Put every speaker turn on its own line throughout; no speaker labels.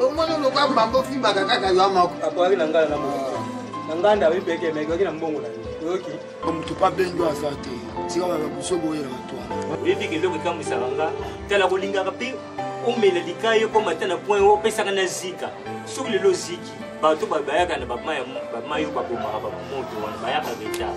omoni oluka mbamba ofimbaka kaka yo moko akwaki na ngai na moko na ngai nda oyipeke mekoki na mbongo na yo oyoki motu pa benjo aza te tika baba biso boyela batwana oyebi ke eloko ekambwisaka nga tala kolingaka mpe omela likai ekoma ata na point oyo opesaka na zika soki lelo ziki bato bayaka na bamai oyo babomaka bamoto wana bayaka retard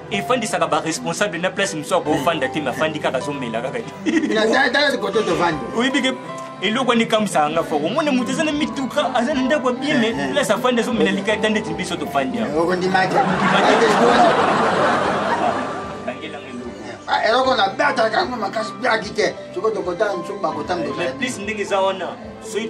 efandisaka baresponsable na place mosusu akofanda te mafandi kaka azomela kaka
oyebi ke
eloko wani ekamwisaka nga foko omona moto aza na mituka aza na ndako ya bien me eh, eh. place afandi azomela likai ta ndeti biso tofandi ah, eloko na
beatalaka yango makasi biaki te soki tokotala mosuku bakotambola plus ndenge eza wana
soki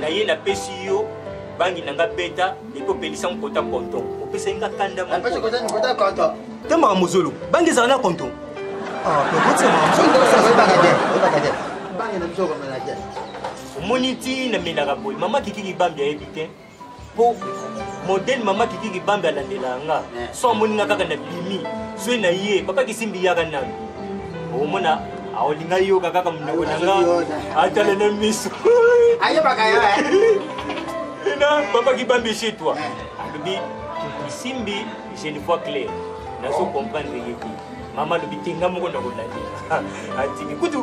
na ye napesi yo bangi na nga beta epe opelisa mokota konton opesaki nga kanda
te makambo zolo
bangi ezala na konton ah,
omoni nti namelaka boye mama kikiki bambi ayebi te po modele mama kiki kibambe alandelaka nga eh. so amoni nga kaka na bimi zwe na ye papa kisimbi yaka nanu omona aolinga yoka kaka monoko na nga atala na miso ayebaka
yo eh.
na papa kibambe chez toi eh. alobi kisimbi je ne vois clair nazo comprendre ye te mama alobi te nga moko nakolandela atiki kutu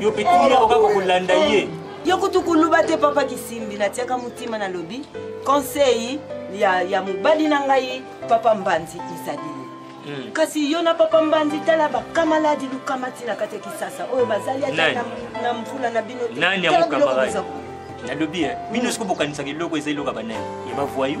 yo pe
timi yako kaka kolanda ye yo kutu kuluba
te papa kisimbi natiaka motima nalobi conseil ya, ya mobali na ngai papa mbanzi ezali Mm. kasi yo na papa mbanzi tala bakamaladi lukama ntina kati ya kisasa oyo bazali ata na mvula na bino nani yango kamaradi
nalobi eh, bino mm. sikobokanisaka eloko eza eloko ya banani ya bavoyou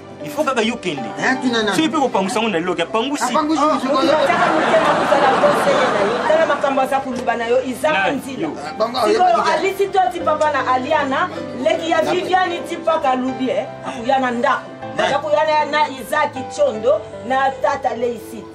il faut kaka yo kende soki mpe kopangusa yango na loki apangusi
tala makambo aza koluba na yo izaka nzila sikoyo alisi to ti papa na aliana leki ya viviani ti paka alubi eh, akoya na ndako akoya na izaki tiondo na tata leisiti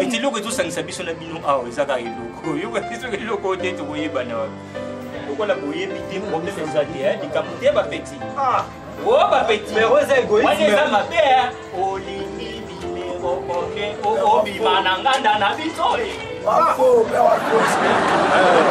ete eloko ezosangisa biso na bino awa eza kaka eloko oyoka te soki eloko te tokoyebana wapi lokola boyebi te problème eza te eh, likambo te bapeti ah! o oh, bapeti wana eza mabe olingi bimero oke obima na nganda na biso eh. ah! eh,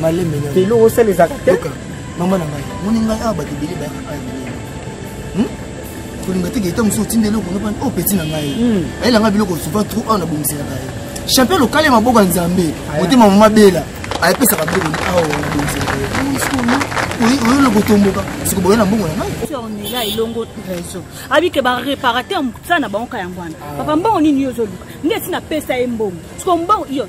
malembe na lelo
osala ezalaka te
mama na ngai
moni ngai awa bato ebele bayaka epai na ngai hmm? kolinga te geta mosusu otinda eloko nopani o oh, peti na ngai hmm. ayela ngai biloko souvent trop awa nabongiselaka ye champion lokale maboko ya nzambe motema mama bela ayepesaka biloko ni awa nabongiselaka ye oyo eloko tomboka siko boye na mbongo na ngai ornela elongo
réseau abike baréparateur mosala na bango ka yango wana ah. papa mbongo nini yo ozoluka nde esi napesa ye mbongo siko mbongo iyo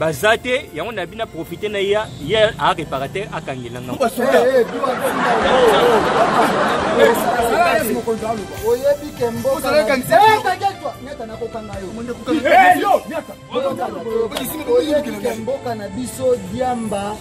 baza te yango nabi na profite na ye ye areparateur akangela nga oyebi
kemboka na biso diamba